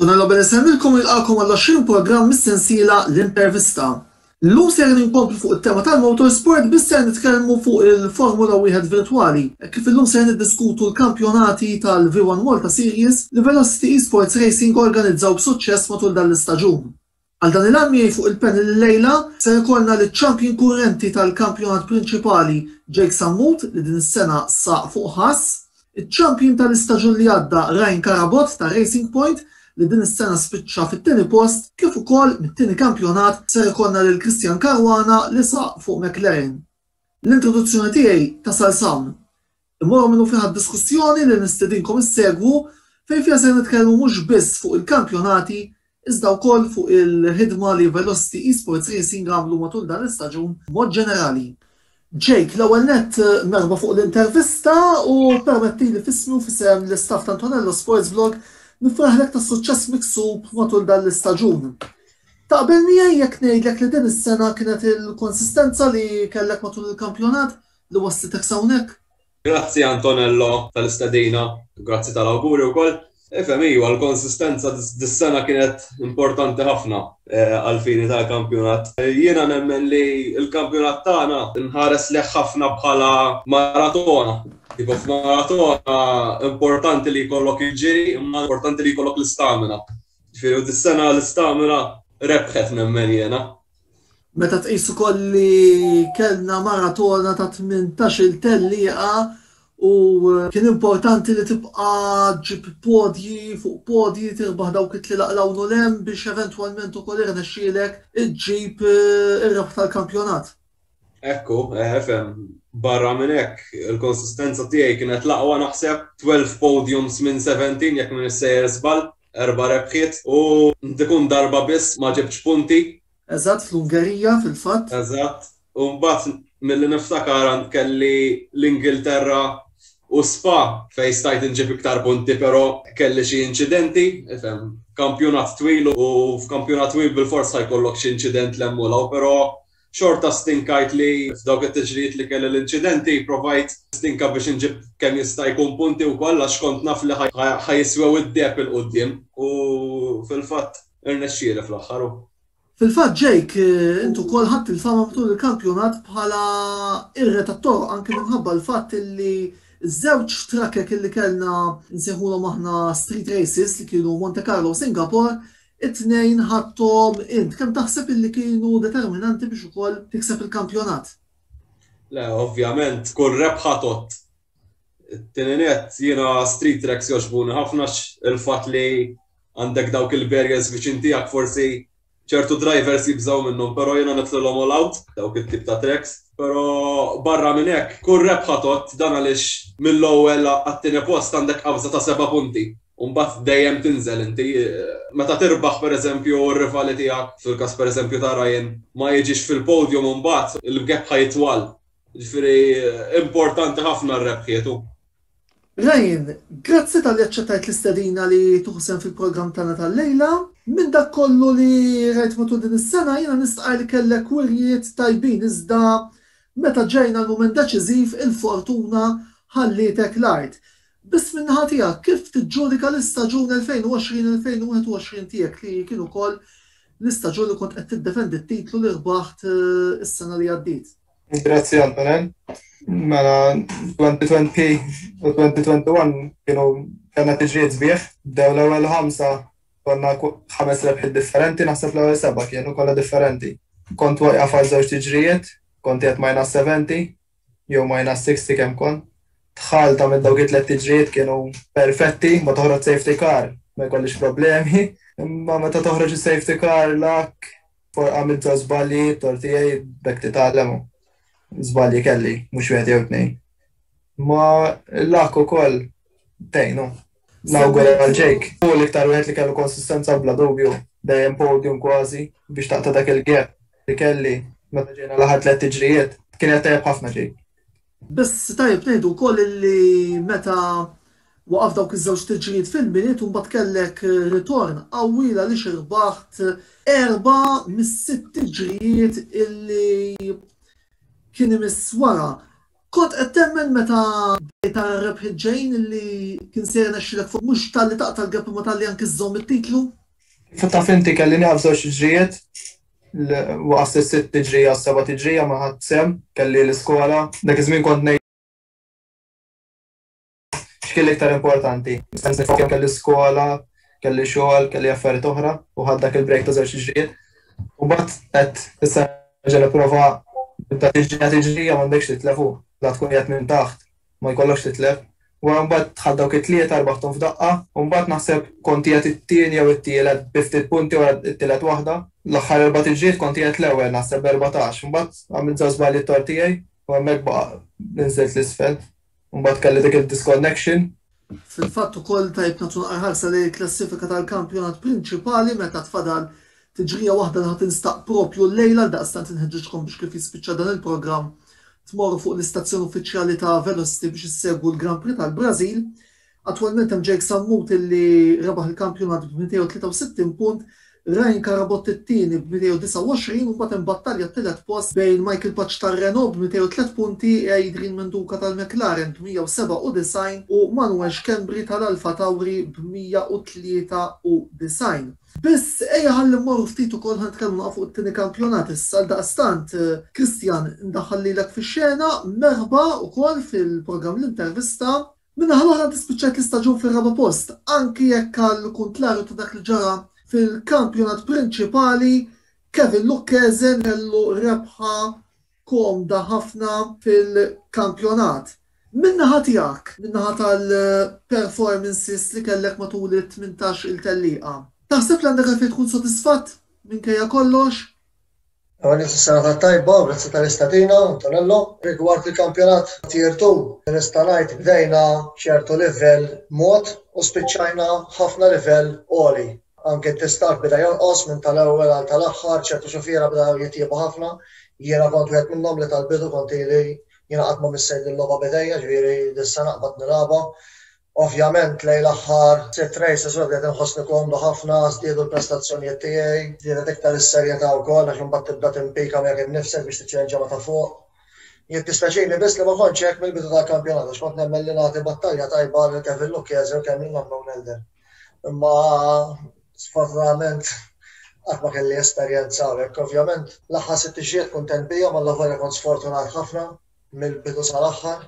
Tuna Nobel insemmilkom u nilqakom għall-20 programm mis-sensiela L-Intervista. Illum ser ninkomplu fuq it-tema tal-motorsport biss ser nitkellmu fuq il-Formula Wieħed virtwali, hekk kif illum ser niddiskutu l-kampjonati tal-V1 Malta Series li Velocity Esports Racing organizzaw b'suċċess matul dan l-istaġun. Għal dan il-għan miegħi fuq il-panel illejla ser ikollna liċ-champion kurrenti tal-kampjonat prinċipali Jake Sammut li din is-sena saq fuq ħass, iċ-champion tal-istaġun li għadda Ryan Carabott ta' Racing Point li din is-sena spiċċa fit-tieni post kif ukoll mit-tieni kampjonat ser ikollna lil Christian Caruana li saq fuq McLaren. L-introduzzjoni tiegħi tasal s'hawn. Immorru minnu fih għad-diskussjoni li nistedinkom issegwu fejn fiha ser nitkellmu mhux biss fuq il-kampjonati iżda wkoll fuq il-ħidma li Velocity Esports Racing għamlu matul dan l-istaġun b'mod ġenerali. Jake, l-ewwel nett merħba fuq l-intervista u permettili f'ismi u f'isem l-istaff ta' Antonello Sportsvlog nifraħlek tas-suċċess miksub matul dan l-istaġun. Taqbel miegħi jekk ngħidlek li din is-sena kienet il-konsistenza li kellek matul il-kampjonat li wasslitek s'hawnhekk. Grazzi Antonello tal-istedina u grazzi tal-awguri wkoll. Ifhem iva, l-konsistenza dis-sena kienet importanti ħafna għall-fini tal-kampjonat. Jiena nemmen li l-kampjonat tagħna nħares lejh ħafna bħala maratona. Tipo f'maratona importanti li jkollok il-ġiri imma importanti li jkollok l-istamina. Ġifieri u dis-sena l-istamina rebħet nemmen jiena. Meta tqis ukoll li kellna maratona ta' 18-il tellieqa u kien importanti li tibqa' ġġib podji fuq podji, tirbaħ dawk it-tlielaq 'l hawn u 'l hemm biex eventwalment ukoll irnexxielek iġġib ir-rebħ tal-kampjonat. Hekk hu, FM. Barra minn hekk, il-konsistenza tiegħi kienet l-aqwa naħseb, 12 podiums minn 17 jekk m'iniex sejjer żball. Erba' rebħiet u Ntikun darba biss ma ġibtx punti. Eżatt, fl-Ungerija fil-fatt. Eżatt. U mbagħad milli niftakar għand kelli l-Ingilterra u Spa fejn stajt inġib iktar punti però kelli xi inċidenti, ifhem, kampjonat twil u f'kampjonat twil bilfors ħa jkollok xi inċident 'l hemm u 'l hawn però xorta stinkajt li f'dawk it-tiġrijiet li kelli l-inċidenti provajt stinka biex inġib kemm jista' jkun punti wkoll għax kont naf li ħa jiswew id-deheb 'il quddiem u fil-fatt irnexxieli fl-aħħar u. Fil-fatt Jake, int ukoll ħadt il-fama matul il-kampjonat bħala irre tat-toroq anki minħabba l-fatt li ż-żewġ trakkek li kellna nsejħulhom aħna street races li kienu Monte Carlo u Singapore It-tnejn ħadthom int. Kemm taħseb illi kienu determinanti biex ukoll tikseb il-kampjonat? Le, ovvjament kull rebħa tgħodd. It-tieni nett, jiena street tracks jogħġbuni ħafna għax il-fatt li għandek dawk il-barriers viċin tiegħek forsi ċertu drivers jibżgħu minnhom, però jiena nitlilhom all out dawk it-tip ta' tracks. Però barra minn hekk, kull rebħa tgħodd, dan għaliex mill-ewwel għat-tieni post għandek qabża ta' seba' punti u mbagħad dejjem tinżel inti. Meta tirbaħ pereżempju u r-rivali tiegħek, fil-każ pereżempju ta' Rayan, ma jiġix fil-podium imbagħad il-gap ħa jitwal. Jiġifieri importanti ħafna r-rebħiet u. Ryan, grazzi talli aċċettajt l-istedina li tieħu sehem fil-programm tagħna tal-lejla. Minn dak kollu li rajt matul din is-sena jiena nistqarr li kellek wirjiet tajbin iżda meta ġejna l-mument deċiżiv il-fortuna ħallietek l-art. Biss min-naħa tiegħek kif tiġġudika l-istaġun 2020-2021 tiegħek li kien ukoll l-istaġun li kont qed tiddefendi t-titlu li rbaħt is-sena li għaddiet? Grazzi Antonin. Mela 2020 u 2021 kienu kena tiġriet bieħ, bdew l-ewwel ħamsa konna ħames rebħiet differenti, naħseb l-ewwel seba' kienu kollha differenti. Kont wajqa fal żewġ tiġrijiet, kont qed minus 70 jew minus 60 kemm kont. Tħalta minn dawk it-tliet tiġrijiet kienu perfetti, ma toħroġ safety car, ma jkollix problemi, imma meta toħroġ is-safety car lak Għamilt żbalji, tort tiegħi, b'hekk titgħallem u żbalji kelli, mhux wieħed jew tnejn. Ma l-luck ukoll tgħin u nawgura għal Jake. Hu l-iktar wieħed li kellu konsistenza bla dubju, dejjem podium kważi biex taqta' dak il-gap li kelli meta ġejna l-aħħar tliet tiġrijiet. Kien qiegħed tajjeb ħafna Jake. Biss tajjeb ngħidu wkoll li meta waqaf dawk iż-żewġ tniġġijiet fil-Milied u mbagħad kellek ritorn qawwi l-għaliex irbaħt erba' mis-sitt tiġrijiet illi kien imiss wara. Kont qed temmen meta bdejt tara r-rebħiet ġejjin illi kien se jirnexxilek fuq mhux talli taqta' l-gap imma talli anki żżomm it-titlu? Kif taf inti kelli nieqaf żewġ tiġrijiet Waqas is-sitt tiġrija, s-seba' tiġrija ma ħadt sehem, kelli l-iskola. Dak iż-żmien kont ngħid x'kien l-iktar importanti. Stess nifoka kemm kelli skola, kelli xogħol, kelli affarijiet oħra u ħadt dak il-break ta' żewġ tiġrijiet. U mbagħad għedt issa nerġa' nipprova nibda tiġrija tiġrija m'għandekx titlef u la tkun qiegħed minn taħt ma jkollokx titlef. Wara mbagħad dħalt dawk it-tlieta rbaħthom f'daqqa. U mbagħad naħseb kont qiegħed it-tieni jew it-tielet bi ftit punti wara t-tielet waħda. L-aħħar erba' tiġriet kont qiegħed l-ewwel naħseb b'erbatax. Mbagħad għamilt żewġ żbalji t-tort tiegħi u hemmhekk baqa' li nżilt 'l isfel. U mbagħad kelli dik id-disconnection. Fil-fatt ukoll tajtna tonqar ħarsa lejn il-klassifika tal-kampjonat prinċipali meta tfadal Tiġrija waħda li ħa tinstaq proprju llejla għaldaqstant inħeġġiġkom biex kif jispiċċa dan il-programm tmorru fuq l-istazzjon uffiċjali ta' Velocity biex issegwu l-Grand Prix tal-Brażil. Attwalment hemm Jake Sammuti li rebaħ il-kampjonat b'263 punt, Ryan Carabott it-tieni b'229 u mbagħad hemm battalja t-tielet post bejn Michael Pace tar-Renault b'203 punti, Adrian Menduca tal-McLaren b'197 u Manuel Schembri tal-Alfa Tauri b'193. Biss, ejja ħalli mmorru ftit ukoll ħa nitkellmu naqa' fuq it-tieni kampjonat issa. Għaldaqstant, Christian, indaħħal lilek fix-xena, merħba ukoll fil-programm L-Intervista. Min-naħa l-oħra inti spiċċajt l-istaġun fir-raba' post, anki jekk għall-kuntlarju ta' dak li ġara fil-kampjonat prinċipali, Kevin Lucchese kellu rebħa komda ħafna fil-kampjonat. Min-naħa tiegħek, min-naħa tal-performances li kellek matul it-tmintax-il tellieqa, taħseb li għandek għalfejn tkun sodisfatt minkejja kollox? Għaniet is-sena tat-tajba u grazzi tal-istedina, Antonello. Rigward il-kampjonat Tier Two, nista' ngħid bdejna b'ċertu livell mod u spiċċajna b'ħafna livell għoli. Anke t-testar beda jonqos minn tal-ewwel għal tal-aħħar, ċertu xufiera bdew jitjiebu ħafna, jiena kont wieħed minnhom li tal-bidu kont ili jingħaqad ma' missier din logħba b'idejja, ġifieri d'issa naqbad nilgħabha. Ovvjament lejn l-aħħar sitt races u hekk bdejt inħossni komdu ħafna, żdiedu l-prestazzjonijiet tiegħi, żdiedet iktar is-serjetà wkoll għax imbagħad tibda timpika miegħek innifsek biex tiċċelenġja ma' ta' fuq. Jiddispjaċini biss li ma kontx hekk mill-bidu tal-kampjonat għax kont nemmen li nagħti battalja tajba lil Kevin Lucchese u kemm lil Unknown Elder. Imma sfortunatament qatt ma kelli esperjenza hawnhekk. Ovvjament l-aħħar sitt ixjiet kuntent bihom għal volja kont sfortunat ħafna mill-bidu sal-aħħar.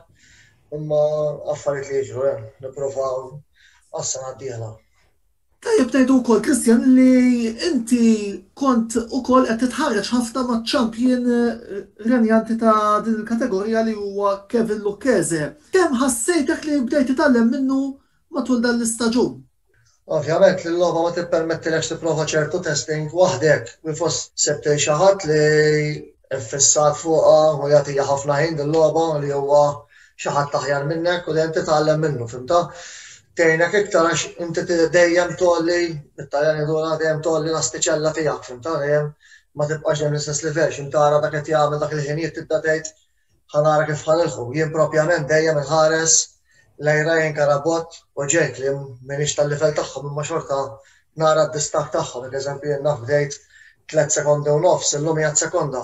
Imma affarijiet li jiġru hemm, eh, nippruvaw għas-sena d-dieħla. Tajjeb ngħidu wkoll Kristjan li inti kont ukoll qed titħarreġ ħafna maċ-champion eh, renjanti ta' din il-kategorija li huwa Kevin Lucchese. Kemm ħassejtek li bdejt titgħallem minnu matul dan l-istaġun. Ovvjament li l-logħba ma tippermettilekx tipprova ċertu testing waħdek minn fost sebtej xi ħadd li ffissat fuqha u jagħtiha ħafna ħin din logħba li huwa xi ħadd aħjar minnek u dejjem titgħallem minnu, fimta? Tgħinek iktar għax inti dejjem tolli, it-Taljan jidura dejjem tolli l-astiċella tiegħek, fimta? Dejjem ma tibqax dejjem l-istess livell, x'intara dak qed jagħmel dak il-ħinijiet tibda tgħid Ħa nara kif ħa nilħqu. Jien propjament dejjem inħares lejn Ryan Carabott u Jake li m'iniex tal-livell tagħhom imma xorta nara d-distakk tagħhom. Jekk eżempju jien naf bdejt tliet sekondi u nofs, illum qiegħed sekonda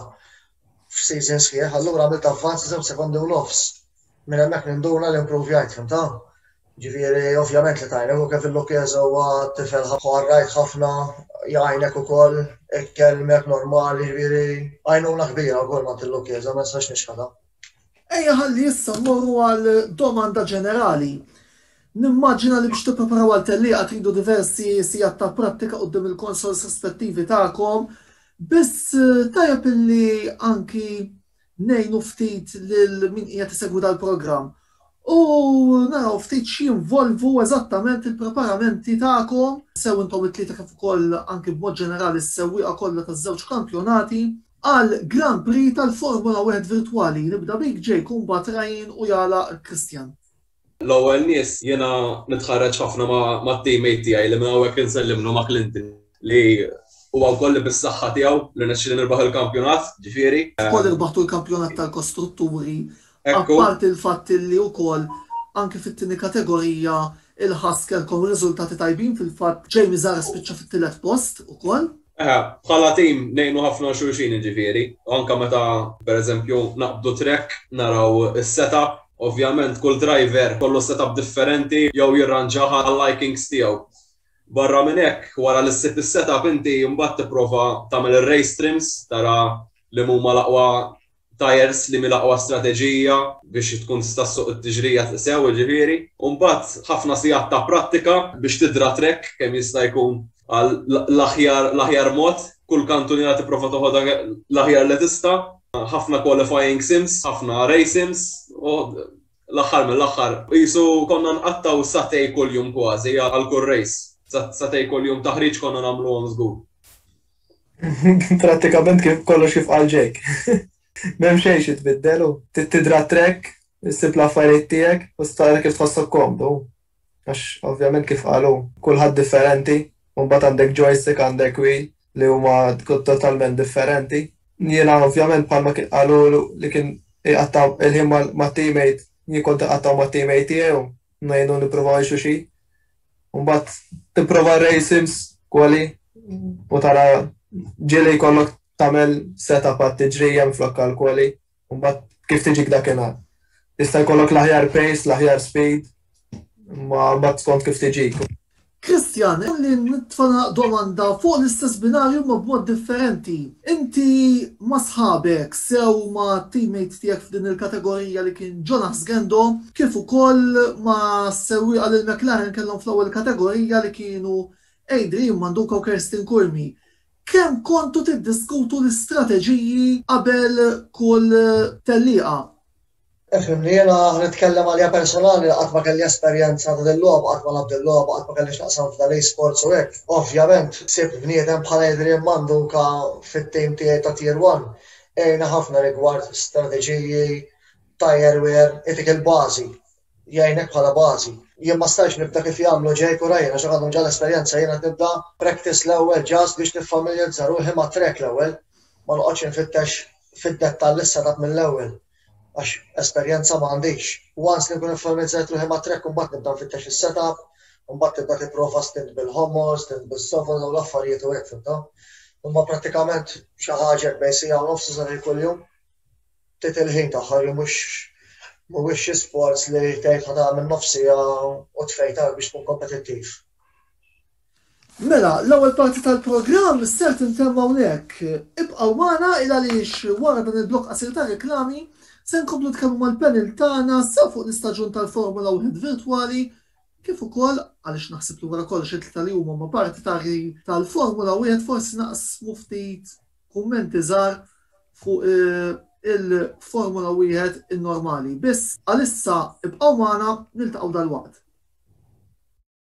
f'season sħiħ, allura għamilt avvanz ta' żewġ sekondi u nofs. Minn hemmhekk ninduna li impruvjajt, fhimtha? Jiġifieri ovvjament li tgħinek u kif il-Lucchese huwa tifel ħarrajt ħafna jgħinek ukoll, ikellmek normali, jiġifieri għajnuna kbira wkoll m'għand il-Lucchese, ma nistax nixħetha. Ejja ħalli issa mmorru għal domanda ġenerali. Nimmaġina li biex tippreparaw għal tellieqa tridu diversi sigħat ta' prattika quddiem il-consoles rispettivi tagħkom, biss tajjeb illi anki ngħinu ftit lil min qiegħed isegwi dal-programm u naraw ftit x'jinvolvu eżattament il-preparamenti tagħkom sew intom it-tlieta kif ukoll anki b'mod ġenerali s-sewwieqa kollha taż-żewġ kampjonati għal Grand Prix tal-Formula Wieħed Virtwali. Nibda bik Jake u mbagħad Ryan u jagħlaq Christian. L-ewwel nies jiena nitħarreġ ħafna mat-teammate tiegħi li minn hawnhekk insellimlu ma' Clinton li huwa wkoll li bis-saħħa tiegħu li rnexxieli nirbaħ il-kampjonat, ġifieri. Wkoll irbaħtu l-kampjonat tal-kostrutturi, apparti l-fatt li wkoll anki fit-tieni kategorija il-Husker kom riżultati tajbin fil-fatt Jamie Zahra spiċċa fit-tielet post ukoll. Eħe, bħala tim ngħinu ħafna xulxin jiġifieri, anke meta pereżempju naqbdu track naraw is-setup, ovvjament kull driver jkollu setup differenti jew jirranġah għal likings tiegħu. Barra minn hekk, wara li ssib is-setup inti mbagħad tipprova tagħmel ir-race trims, tara liema huma l-aqwa tajers li mil-aqwa strateġija biex tkun tista' ssuq it-tiġrija sew jiġifieri, u mbagħad ħafna sigħat ta' prattika biex tidra trekk kemm jista' jkun għal l-aħjar l-aħjar mod, kull kantuniera tipprova toħodha l-aħjar li tista', ħafna qualifying sims, ħafna race sims, u l-aħħar mill-aħħar qisu konna nqattgħu sagħtej kuljum kważi għal kull race, sagħtej kuljum taħriġ konna nagħmluhom żgur. Prattikament kif kollox kif qal Jake. M'hemm xejn xi tbiddel u trid tidra t-trekk, issib l-affarijiet tiegħek u s tara kif tħossok komdu. Għax ovvjament kif qal hu, kulħadd differenti u mbagħad għandek joystick, għandek wheel li huma totalment differenti. Jiena ovvjament bħalma kien qalu li kien iqatta' il-ħin mat-teammate, jien kont iqattgħu mat-teammate tiegħi u ngħinu nipprovaw ngħixu xi. U mbagħad tipprova rrej sims kwali u tara ġieli jkollok tagħmel setup għat tiġrija minflok għal kwali u mbagħad kif tiġik dakinhar. Jista' jkollok l-aħjar pace, l-aħjar speed, ma mbagħad skont kif tiġik. Christian, Ħalli nitfalaq domanda fuq l-istess binarju imma b'mod differenti. Inti ma' sħabek, sew ma' teammates tiegħek f'din il-kategorija li kien Jonas Gendo, kif ukoll ma' sewwieqa li l-McLaren kellhom fl-ewwel kategorija li kienu Adrian Manduca u Kirsten Curmi, kemm kontu tiddiskutu l-istrateġiji qabel kull tellieqa? Ifhimni, jiena nitkellem għalija personali qatt ma kelli esperjenza ta' dil-logħba, qatt ma lgħabt dil-logħba, qatt ma kelli x'naqsam f'dan l-esports u hekk. Ovvjament, sibt bniedem bħal Adrian Manduca fit-tim tiegħi ta' Tier One. Għinna ħafna rigward strateġiji, tire wear, itik il-bażi, jgħinek bħala bażi. Jien ma stajtx nibda kif jagħmlu Jake u Ryan għax hekk għandhom ġa l-esperjenza, jien qed nibda practice l-ewwel ġast biex niffamiljarizza ruħi mat-track l-ewwel, ma noqgħodx infittex fid-dettall issa dak mill-ewwel għax esperjenza ma għandix. Once li nkun iffamilizzajt ruħi ma' track imbagħad nibda nfittex is-setup, imbagħad tibda tipprova stint bil-homor, stint bis-sofos dawn l-affarijiet u hekk fimtha. Imma prattikament xi ħaġa bejn siegħa u nofs sa ħin kuljum tit il-ħin tagħha li mhux mhuwiex xi sports li tgħid ħa tagħmel nofs siegħa u tfejtar biex tkun kompetittiv. Mela, l-ewwel parti tal-programm ser tintemm hawnhekk. Ibqgħu magħna il għaliex wara dan il-blokk qasir ta' reklami se nkomplu nitkellmu mal-panel tagħna sew fuq l-istaġun tal-Formula Wieħed virtwali kif ukoll, għaliex naħseb li wara kollox it-tlieta li huma huma parti ta' tal-Formula Wieħed forsi naqsmu ftit kummenti żgħar fuq il-Formula Wieħed in-normali. Biss għalissa ibqgħu magħna niltaqgħu dalwaqt.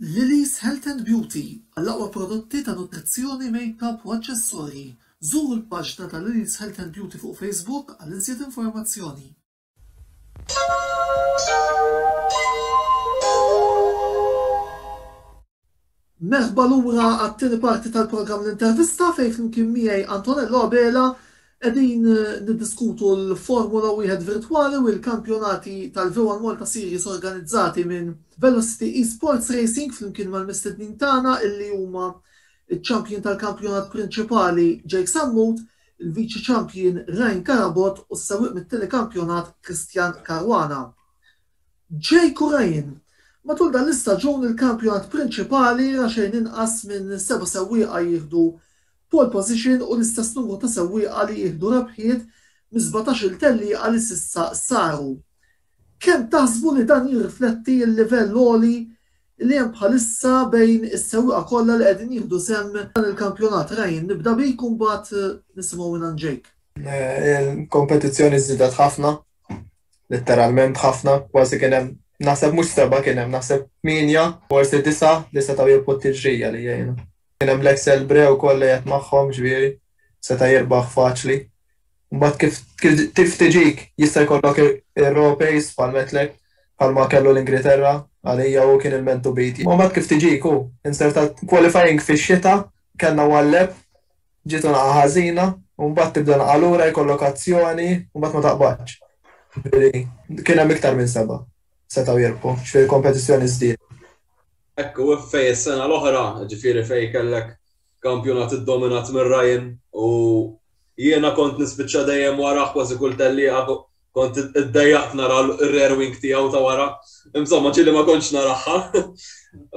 Lily's Health and Beauty, Għall-aqwa prodotti ta' nutrizzjoni, makeup u aċċessorji, żuru l-paġna ta' Lily's Health and Beauty fuq Facebook għal iżjed informazzjoni. Merħba lura għat-tieni parti tal-programm L-Intervista fejn flimkien miegħi Antonello Abela Qegħdin niddiskutu l-Formula Wieħed Virtwali u l-kampjonati tal-V1 Malta Series organizzati minn Velocity Esports Racing flimkien mal-mistednin tagħna li huma ċ-Champion tal-Kampjonat Prinċipali Jake Sammut, il-Viċi Champion Ryan Carabott u s-sewwieq mit-Tieni Kampjonat Christian Caruana. Jake u Ryan, matul dan l-istaġun il-Kampjonat Prinċipali ra xejn inqas minn seba' sewwieqa jieħdu pole position u l-istess numru ta' sewwieqa li jieħdu rebħiet mis-sbatax-il tellieqa li s'issa saru. Kemm taħsbu li dan jirrifletti l-livell għoli li hemm bħalissa bejn is-sewwieqa kollha li qegħdin jieħdu sehem f'dan il-kampjonat? Ryan, nibda bik u mbagħad nisimgħu mingħand Jake. Il-kompetizzjoni żdiedet ħafna, litteralment ħafna, kważi kien hemm naħseb mhux seba' kien hemm naħseb tmienja, forsi disa' li setgħu jilqu t-tiġrija li jgħinu. Kien hemm Black Selbre wkoll li qed magħhom, ġifieri seta' jirbaħ faċli. Mbagħad kif kif tiġik jista' jkollok ir-raw pace bħal Metlek, bħalma kellu l-Ingriterra, għalija hu kien il-man to beat. Imma mbagħad kif tiġik hu inzertat qualifying fix-xita, kellna one lap, ġiet unghaq ħażina u mbagħad tibda nagħqa lura jkollok azzjoni u mbagħad ma taqbadx. Ġifieri kien hemm iktar minn seba' setgħu jirbħu, ġifieri l-kompetizzjoni żdiedet. Hekk u fejn is-sena l-oħra, ġifieri fejn kellek kampjonat iddominat minn Ryan u jiena kont nispiċċa dejjem warah kważi kull tellieqa kont iddejjaqt nara r-rear wing tiegħu ta' wara. Insomma, ġieli ma kontx naraha.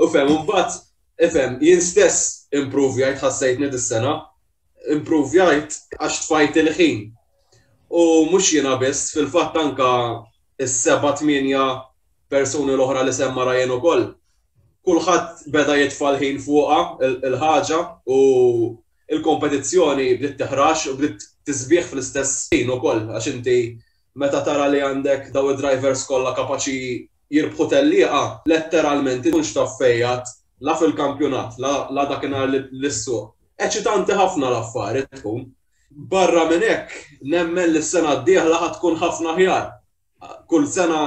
U fehem, imbagħad, ifhem, jien stess improvjajt ħassejtni dis-sena. improvjajt għax tfajt il-ħin. U mhux jiena biss, fil-fatt anke s-seba' tmienja persuni l-oħra li semma Ryan ukoll. Kulħadd beda jitfa' l-ħin fuqha l-ħaġa u l-kompetizzjoni bdiet teħrax u bdiet tisbieħ fl-istess ħin ukoll għax inti meta tara li għandek dawn id-drivers kollha kapaċi jirbħu tellieqa letteralment ikun xtaf fejjat la fil-kampjonat la dakinhar lis-suq. Eċitanti ħafna l-affari tkun. Barra minn hekk nemmen li s-sena d-dieħla ħa tkun ħafna aħjar. Kull sena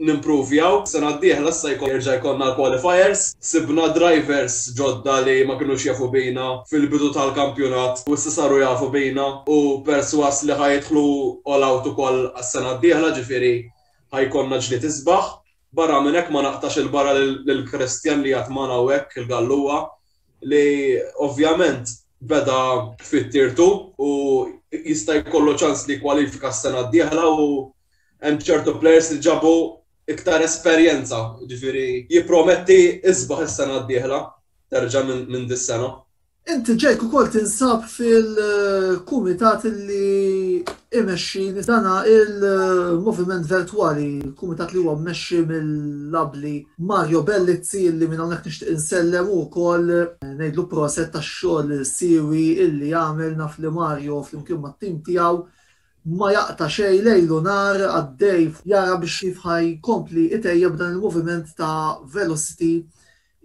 nimpruvjaw, s-sena d-dieħla issa jerġa' jkollna l-qualifiers, sibna drivers ġodda li ma kinux jafu bina fil-bidu tal-kampjonat u issa saru jafu bina u persważ li ħa jidħlu all-out ukoll għas-sena d-dieħla ġifieri Ħa jkollna ġlied isbaħ. Barra minn hekk ma naqtax 'il barra lil Christian li għad magħna hawnhekk, il-Gallugħa, li ovvjament beda fit-tirtu u jista' jkollu ċans li jkwalifika s-sena d-dieħla u hemm ċertu plejers li ġabu iktar esperjenza, jiġifieri jipprometti isbaħ is-sena d-dieħla terġa' minn dis-sena. Inti ġejk ukoll tinsab fil-kumitat li imexxi dana il-Moviment Vertwali, kumitat li huwa mmexxi mill-abbli Mario Bellizzi li minn hawnhekk nixtieq insellem u wkoll ngħidlu proset tax-xogħol siewi illi jagħmel naf li Mario flimkien mat-tim tiegħu ma jaqta' xejn lejl u nhar għaddej jara biex kif ħa jkompli itejjeb dan il-moviment ta' Velocity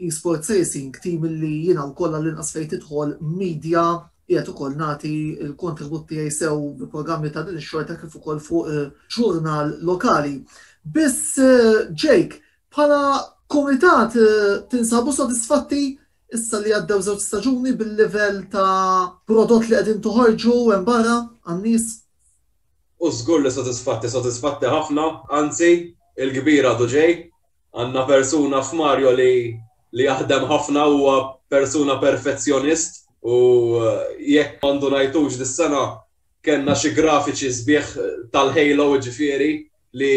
Esport Tracing, tim illi jiena wkoll għall-inqas fejn tidħol media qiegħed ukoll nagħti l-kontribut tiegħi sew bi programmi ta' din ix-xorta kif ukoll fuq ġurnal lokali. Biss Jake, bħala kumitat tinsabu sodisfatti issa li għaddew żewġ staġuni bil-livell ta' prodott li qegħdin toħorġu hemm barra għan-nies? U żgur li sodisfatti, sodisfatti ħafna, anzi il-kbir għadu ġej. Għandna persuna f'Mario li li jaħdem ħafna huwa persuna perfezzjonist u jekk ma ndunajtux dis-sena kellna xi grafiċi sbieħ tal-Halo jiġifieri li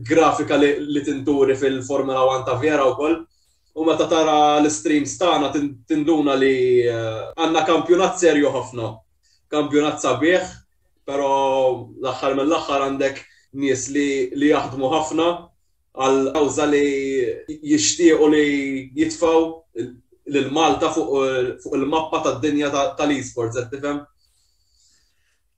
grafika li li tinturi fil-Formula One ta' vera wkoll u meta tara l-istreams tagħna tinduna li għandna kampjunat serju ħafna. Kampjunat sabiħ però l-aħħar mill-aħħar għandek nies li li jaħdmu ħafna għall-kawża li jixtiequ li jitfgħu lil Malta fuq il-mappa tad-dinja tal-eSports, qed tifhem?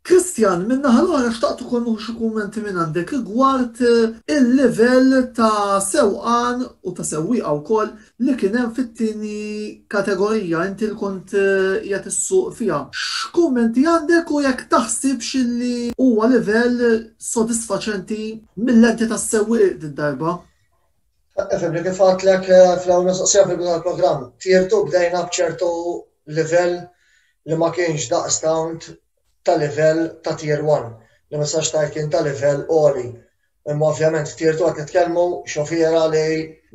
Christian, min-naħa l-oħra xtaqt ukoll nieħu xi kummenti minn għandek rigward il-livell ta' sewqan u ta' sewwieqa wkoll li kien hemm fit-tieni kategorija inti li kont qiegħed issuq fiha. X'kummenti għandek u jekk taħsibx illi huwa livell sodisfaċenti mil-lenti tas-sewwieq did-darba? Ifhem li kif għedtlek fl-ewwel mistoqsija fil-bidu tal-programm, tirtu bdejna b'ċertu livell li ma kienx daqstant ta' livell ta' Tier One, li ma nistax ngħid kien ta' livell għoli. Imma ovvjament f'Tirtu qed nitkellmu xofiera li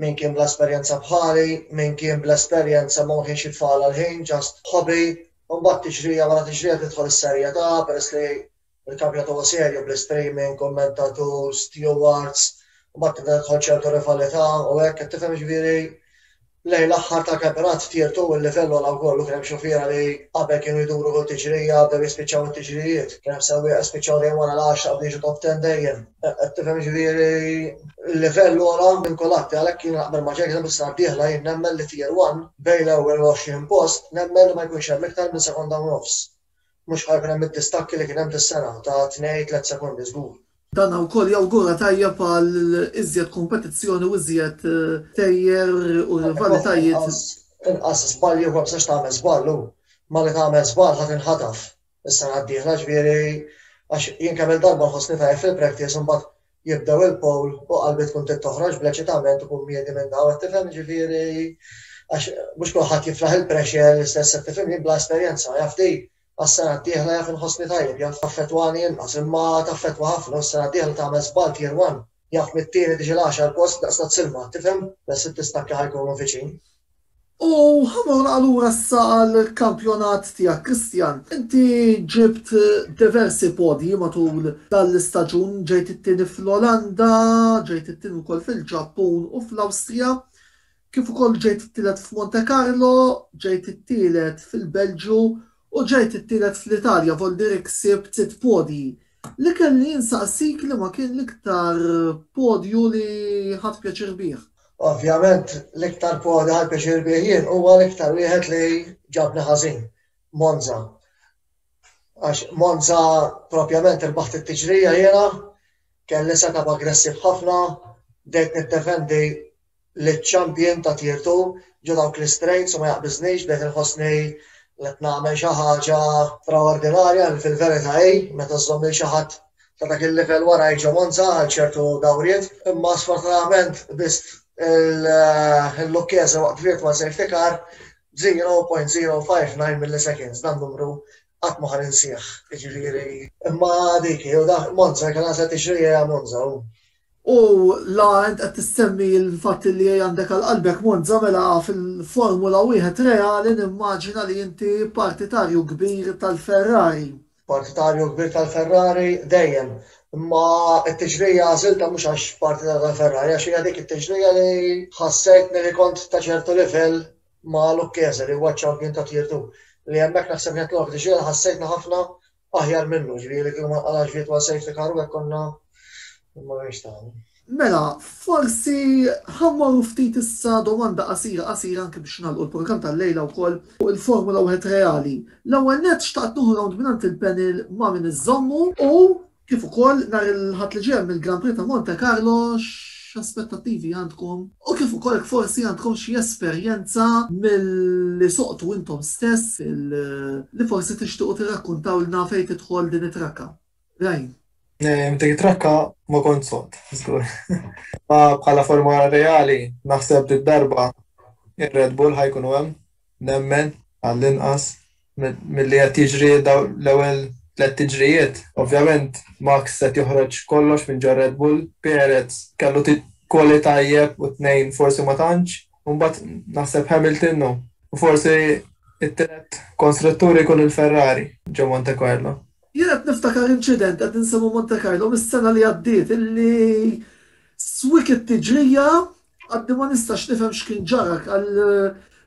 min kien bla esperjenza bħali, min kien bla esperjenza ma kienx jitfagħal għall-ħin, ġast hobby, u mbagħad tiġrija wara tiġrija tidħol is-serjetà peress li l-kampjonat huwa serju bl-istreaming, kummentaturs, stewards, u mbagħad tibda tidħol ċertu rivalità u hekk, qed tifhem jiġifieri Lejn l-aħħar tal-kampjonat tirtu l-livell għola wkoll u kien hemm xufiera li qabel kienu jduru kull tiġrija bdew jispiċċaw it-tiġrijiet. Kien hemm sewwieqa li spiċċaw dejjem wara l-għaxra qabel jiġu top ten dejjem. Qed tifhem jiġifieri l-livell għola minn kulħadd. Għalhekk jiena naqbel ma' Jurgen Klopp is-sena d-dieħla jien nemmen li tier one bejn l-ewwel u l-għoxrin post nemmen li ma jkunx hemm iktar minn sekonda u nofs. Mhux bħal kien hemm id-distakki li kien hemm dis-sena ta' tnej, tliet sekondi żgur. Dan wkoll jawgura tajjeb għal iżjed kompetizzjoni u iżjed tejjer u rivalitajiet. Inqas żbalji u ma tistax tagħmel żball u malli tagħmel żball ħa tinħataf is-sena d-dieħla, ġifieri għax jien kemm-il darba nħossni tajjeb fil-practice u mbagħad jibdew il-poll u qalbi tkun trid toħroġ bl-eċitament u bummiedi minnha u qed tifhem jiġifieri għax mhux kulħadd jiflaħ il-pressure l-istess qed tifhimni bla esperjenza jaf di għas-sena d-dieħla jaf inħossni tajjeb jaf taffettwani inqas imma taffettwa ħafna u s-sena d-dieħla tagħmel żball tier one jaf mit-tieni tiġi l-għaxar post daqs tat-silma tifhem bes it-tistakki ħa jkunu viċin. U ħamur allura issa għall-kampjonat tiegħek, Christian. Inti ġibt diversi podji matul dan l-istaġun, ġejt it-tieni fl-Olanda, ġejt it-tieni wkoll fil-Ġappun u fl-Awstrija, kif ukoll ġejt it-tielet f'Montecarlo, ġejt it-tielet fil-Belġju u ġejt it-tielet fl-Italja, voldieri ksibt sitt podji. Li kelli insaqsik liema kien l-iktar podju li ħadt pjaċir bih? Ovvjament l-iktar podju li ħadt pjaċir bih jien huwa l-iktar wieħed li ġabni ħażin, Monza. Għax Monza propjament irbaħt it-tiġrija jiena, kelli set-up aggressiv ħafna, bdejt niddefendi, liċ-champion ta' Tier Two ġo dawk l-istrejts u ma jaqbiżnix b'hekk inħossni li qed nagħmel xi ħaġa straordinarja li fil-verità hi meta żżomm lil xi ħadd ta' dak il-livell warajk ġo Monza għal ċertu dawriet imma sfortunatament biss il-Lucchese waqt virtual safety car b'0.059 milliseconds dan numru qatt ma ħa ninsih jiġifieri imma dik hi u dak Monza kellha se tixri hija Monza u U la int qed issemmi l-fatti li għandek għal qalbek Monza mela fil-Formula Wieħed reali nimmaġina li inti partitarju kbir tal-Ferrari. Partitarju kbir tal-Ferrari dejjem. Imma t-tiġrija għażiltha mhux għax partitarju tal-Ferrari għax hija dik it-tiġrija li ħassejtni li kont ta' ċertu livell ma' Lucchese li huwa ċ-champion ta' Tier Two. Li hemmhekk naħseb kienet l-unika tiġrija li ħassejtni ħafna Aħjar minnu, ġviri li kienu ma għalax virtual safety car u għek konna ma għenx taħni. Mela, forsi ħammor ftit issa domanda qasira qasira anke biex nagħlqu l-programm tal-lejla wkoll fuq il-Formula wieħed reali. L-ewwel nett xtaqt nuħu round mingħand il-panel ma' min iżommu u kif ukoll nhar il-ħadd li ġej mill-Grand Prix ta' Monte Carlo x'aspettattivi għandkom u kif ukoll jekk forsi għandkom xi esperjenza milli suqtu intom stess li forsi tixtiequ tirrakkuntawlna fejn tidħol din it-trakka. Rain. Dik it-trakka ma kont sod, żgur. Ma bħala forma reali naħseb li darba ir-Red Bull ħajkunu hemm, nemmen għall-inqas milli qed jiġri l-ewwel tliet tiġrijiet. Ovvjament Max qed joħroġ kollox minn ġo Red Bull, Perez kellu quali tajjeb u t-tnejn forsi ma tantx, u mbagħad naħseb Hamilton u forsi t-tielet konstruttur ikun il-Ferrari ġo Monte Carlo. Jien qed niftakar inċident, qed insemmu Monte Carlo, mis-sena li għaddiet illi swiq it-tiġrija Għadni ma nistax nifhem x'kien ġara għal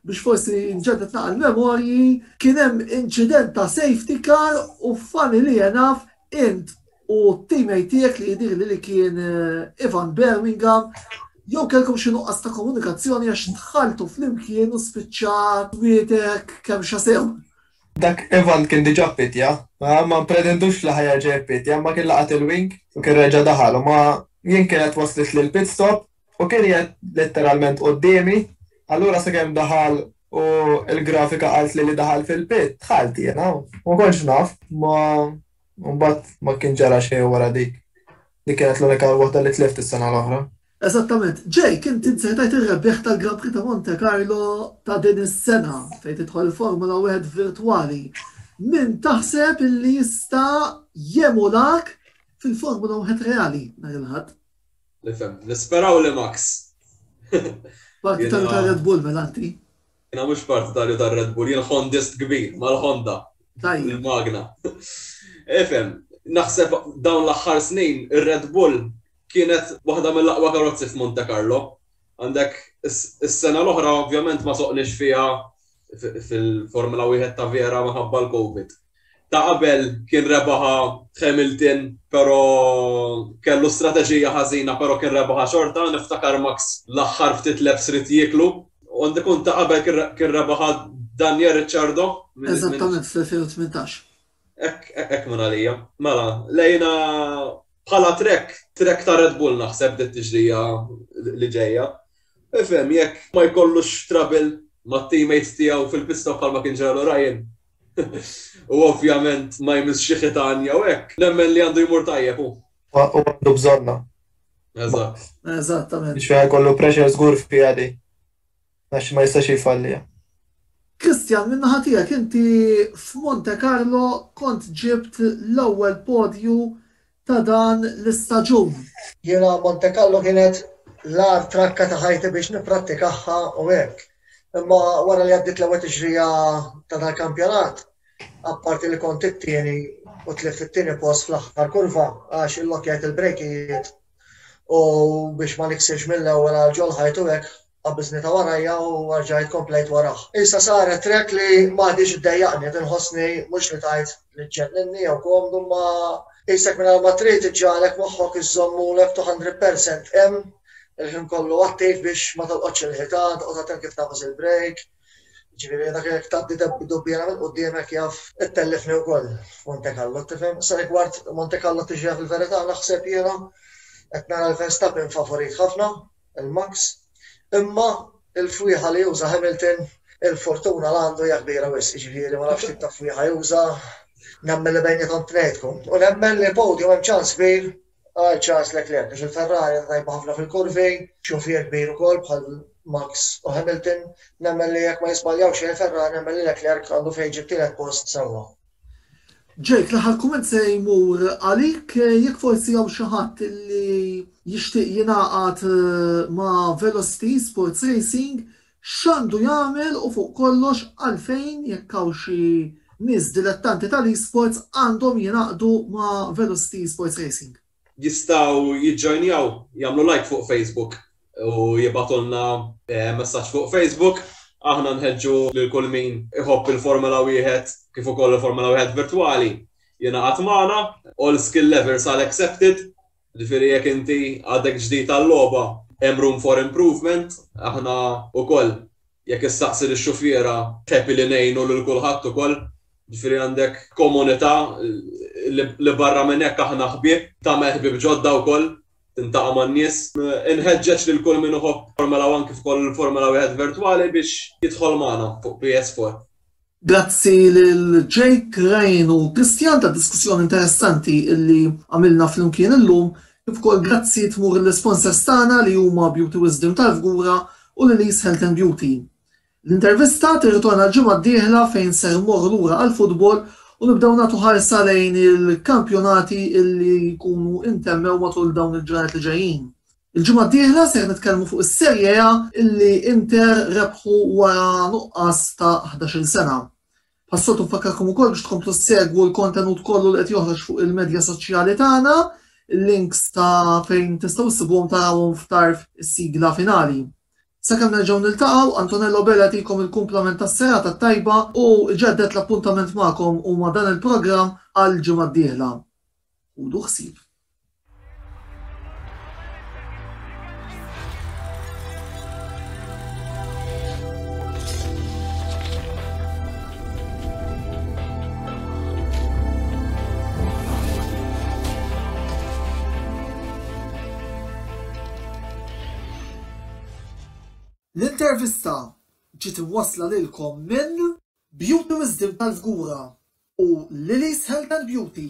biex forsi nġeddet naqal memorji, kien hemm inċident ta' safety car u fani li jenaf int u t-teammate tiegħek li jidir li kien eh, Ivan Birmingham jew kelkom xi nuqqas ta' komunikazzjoni għax tħaltu flimkien u spiċċat wietek kemm xasew. Dak Ivan kien diġà ppittja, ma mpretendux li ħa jerġa' jippittja, imma kien laqat il-wing u kien reġa' daħal u ma jien kienet waslitli l-pit stop u kien qiegħed letteralment quddiemi, allura sakemm daħal u l-grafika qaltli li daħal fil-pit, dħalt jiena u ma kontx naf, imma mbagħad ma kien ġara xejn wara dik. Dik kienet l-unika waħda li tlift is-sena l-oħra. Eżattament. Jake, int int sejtajt ir-rebbieħ tal-Grand Prix ta' Monte Carlo ta' din is-sena, fejn tidħol il-Formula Wieħed virtwali. Min taħseb illi jista' jemulak fil-Formula Wieħed reali nhar il-Ħadd? Nifhem. Nisperaw li Max. Parti ta' Red Bull mela inti. Jiena mhux partitarju tar-Red Bull, jien Hondist kbir, mal-Honda, il-magna. Ifhem, naħseb dawn l-aħħar snin ir-Red Bull kienet waħda mill-aqwa karozzi f'Monte Carlo. Għandek is-sena l-oħra ovvjament ma soqniex fiha fil-Formula Wieħed ta' vera minħabba l-Covid. Ta' qabel kien rebaħha Hamilton pero kellu strateġija ħażina pero kien rebaħha xorta, niftakar Max l-aħħar ftit laps rid jieklu. U għandu jkun ta' qabel kien rebaħha Daniel Ricciardo. Eżattament fl-2018. Hekk minn għalija. Mela, lejna bħala trek, trek ta' Red Bull naħseb dit tiġrija li ġejja. Ifhem jekk ma jkollux trabil mat-teammates tiegħu fil-pista bħalma kien ġralu Ryan, U ovvjament ma jmissx xi ħitan jew hekk. Nemmen li għandu jmur tajjeb hu. Hu għandu bżonnha. Eżatt. Eżattament. Biex fiha jkollu pressure żgur fiha di. Għax ma jistax jfalliha. Christian minn naħa tiegħek inti f'Monte Carlo kont ġibt l-ewwel podju ta' dan l-istaġun. Jiena Montekallo kienet l-agħar trakka ta' ħajti biex nipprattikaha u hekk. Imma wara li għaddiet l-ewwel tixrigħa ta' dal-kampjonat, apparti li kont it-tieni u tlift it-tieni post fl-aħħar kurva għax illokkjajt il-brejkijiet u biex ma niksirx mill-ewwel għal ġol-ħajt u hekk, Qabbiżnitha warajja u rġajt komplejt warah. Issa saret trek li m'għadhiex iddejjaqni, qed inħossni mhux li tgħid li ġġenninni jew komdu imma qisek mingħajr ma trid iġġagħlek moħħok iżżomm moolek 200 percent hemm, il-ħin kollu attiv biex ma tolqotx il-ħitan, toqgħod attent kif tagħfas il-brejk. Jiġifieri dak jekk tgħaddi dubbiena minn qudiemek jaf ittellifni wkoll f'Monte Carlo, tifhem? Sa rigward Monte Carlo tiġi fil-verità naħseb jiena qed nara l-Verstappen favorit ħafna il-Max. Imma il-fwieħa li juża Hamilton, il-fortuna li għandu hija kbira wisq, jiġifieri ma nafx tip ta' fwieħa juża, nemmen li bejniethom tnejnkom. U nemmen li l-podium hemm ċans kbir għal Charles Leclerc għax il-Ferrari hija tajba ħafna fil-kurvi, xufier kbir ukoll bħal Max u Hamilton, nemmen li jekk ma jiżbaljaw xejn il-Ferrari nemmen li Leclerc għandu fejn iġib tielet post sewwa. Jake, l-aħħar kumment se jmur għalik, jekk forsi hawn xi ħadd li jixtieq jingħaqad ma' Velocity Sports Racing, x'għandu jagħmel u fuq kollox għalfejn jekk hawn xi nies dilettanti tal-eSports għandhom jingħaqdu ma' Velocity Sports Racing? jistgħu jiġġojnjaw, jagħmlu like fuq Facebook u jibgħatulna eh, messaġġ fuq Facebook. Aħna nħeġġu lil kull min iħobb il-Formula wieħed kif ukoll il-Formula wieħed virtwali jingħaqad magħna, all skill levels are accepted, ġifieri jekk inti għadek ġdid tal-logħba hemm room for improvement, aħna ukoll Jekk issaqsi lix-xufiera, tħepi li ngħinu lil kulħadd ukoll. Ġifieri għandek komunità li barra minn hekk aħna ħbieb, tagħmel ħbieb ġodda wkoll, tintaqa' man-nies. Inħeġġeġ lil kull min iħobb Formula One kif ukoll Formula Wieħed Virtwali biex jidħol magħna fuq PS4. Grazzi lil Jake, Ryan u Christian tad-diskussjoni interessanti li għamilna flimkien illum, kif ukoll grazzi tmur lill-isponsors tagħna li huma Beauty Wisdom tal-Fgura u Lily's Health and Beauty. L-intervista tirritorna l-ġimgħa d-dieħla fejn ser immorru lura għall-futbol u nibdew nagħtu ħarsa lejn il-kampjonati li jkunu intemmew matul dawn il-ġranet li ġejjin. Il-ġimgħa d-dieħla ser nitkellmu fuq is-Serie A illi Inter rebħu wara nuqqas ta' ħdax-il sena. Bħas-soltu nfakkarkom ukoll biex tkomplu ssegwu l-kontenut kollu li qed joħroġ fuq il-medja soċjali tagħna, il-links ta' fejn tistgħu ssibuhom tarawhom f'tarf is-sigla finali. Sakemm nerġgħu niltaqgħu, Antonello Bela jagħtikom il-kumplament tas-serata t-tajba u jġedded l-appuntament magħkom u ma' dan il-programm għall-ġimgħa d-dieħla. Ħudu ħsieb. L-intervista ġiet imwassla lilkom minn Beauty Wisdom tal-Fgura u Lily's Health and Beauty.